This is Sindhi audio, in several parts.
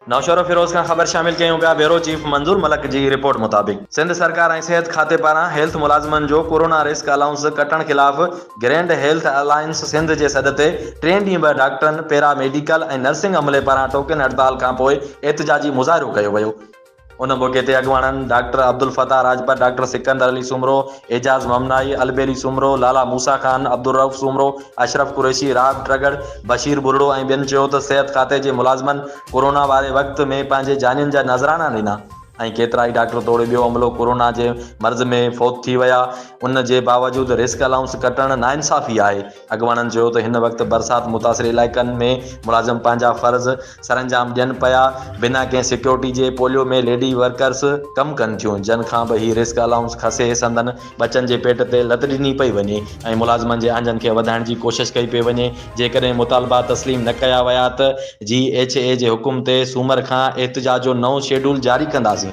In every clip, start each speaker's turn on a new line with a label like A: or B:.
A: نوشهرو فيروز کان خبر شامل ڪيون پيا بيورو چيف منظور ملڪ جي رپورٽ مطابق سنڌ سرڪار ۽ صحت کاتي پاران هيلٿ ملازمن جو ڪورونا رسڪ الائونس ڪٽڻ خلاف گرينڊ هيلٿ الائنس سنڌ جي سڏ تي ٽين ڏينهن به ڊاڪٽرن پيرا ميڊيڪل ۽ نرسنگ عملي پاران ٽوڪن هڙتال کانپوء احتجاجي مظاهرو ڪيو ويو ان موقعي تي اڳواڻن ڊاڪٽر عبدالفتاح راڄپر، ڊاڪٽر سڪندر علي سومرو، اعجاز ممنائي، البيلي سومرو، لالا موسيٰ خان، عبدالرئوف سومرو، اشرف قريشي، راب ٽرڳڙ، بشير ٻرڙو ۽ ٻين چيو ته صحت کاتي جي ملازمن ڪورونا واري وقت ۾ پنهنجي جانين جا نذرانا ڏنا ۽ ڪيترائي ڊاڪٽر توڙي ٻيو عملو ڪورونا جي مرض ۾ فوت ٿي ويا ان جي باوجود رسڪ الائونس ڪٽڻ ناانصافي آهي اڳواڻن چيو ته هن وقت برسات متاثر علائقن ۾ ملازم پنهنجا فرض سرانجام ڏين پيا، بنا ڪنهن سيڪيورٽي جي پوليو ۾ ليڊي ورڪرس ڪم ڪن ٿيون، جن کان به هي رسڪ الائونس کسي سندن ٻچن جي پيٽ تي لت ڏني پئي وڃي ۽ ملازمن جي آنجن کي وڌائڻ جي ڪوشش ڪئي پئي وڃي، جيڪڏهن مطالبا تسليم نه ڪيا ويا ته جي ايڇ اي جي حڪم تي سومر کان احتجاج جو نئون شيڊول جاري ڪنداسين.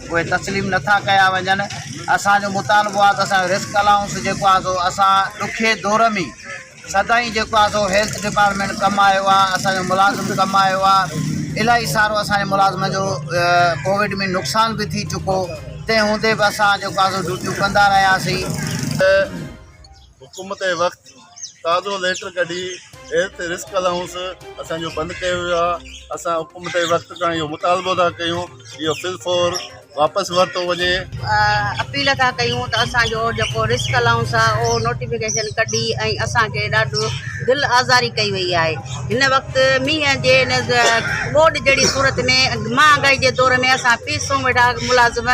B: اهي تسليم نه ٿا ڪيا وڃن، اسان جو مطالبو آهي ته اسان جو رسڪ الائونس جيڪو آهي سو اسان ڏکي دور ۾ سدائين جيڪو آهي سو هيلٿ ڊپارٽمينٽ ڪم آيو آهي، اسان جو ملازم ڪم آيو آهي، الائي سارو اسان جي ملازمن جو ڪووڊ ۾ نقصان به ٿي چڪو، تنهن هوندي به اسان جيڪو آهي سو ڊيوٽيون ڪندا رهياسين.
C: حڪومت اي وقت تازو ليٽر ڪڍي اير تي رسڪ الاؤنس اسان جو بند ڪيو ويو آ اسان حڪومت اي وقت کان اهو مطالبو ٿا ڪيون اهو فل فور واپس ورتو وڃي اپيل
D: ٿا ڪيون ته اسان جو جيڪو رسڪ الاؤنس آ اهو نوٽيفڪيشن ڪڍي ۽ اسان کي ڏاڍو دل آزاري ڪئي وئي آهي هن وقت مينهن جي ان ٻوڏ جهڙي صورت ۾ مهانگائي جي دور ۾ اسان پي سو ويٺا ملازم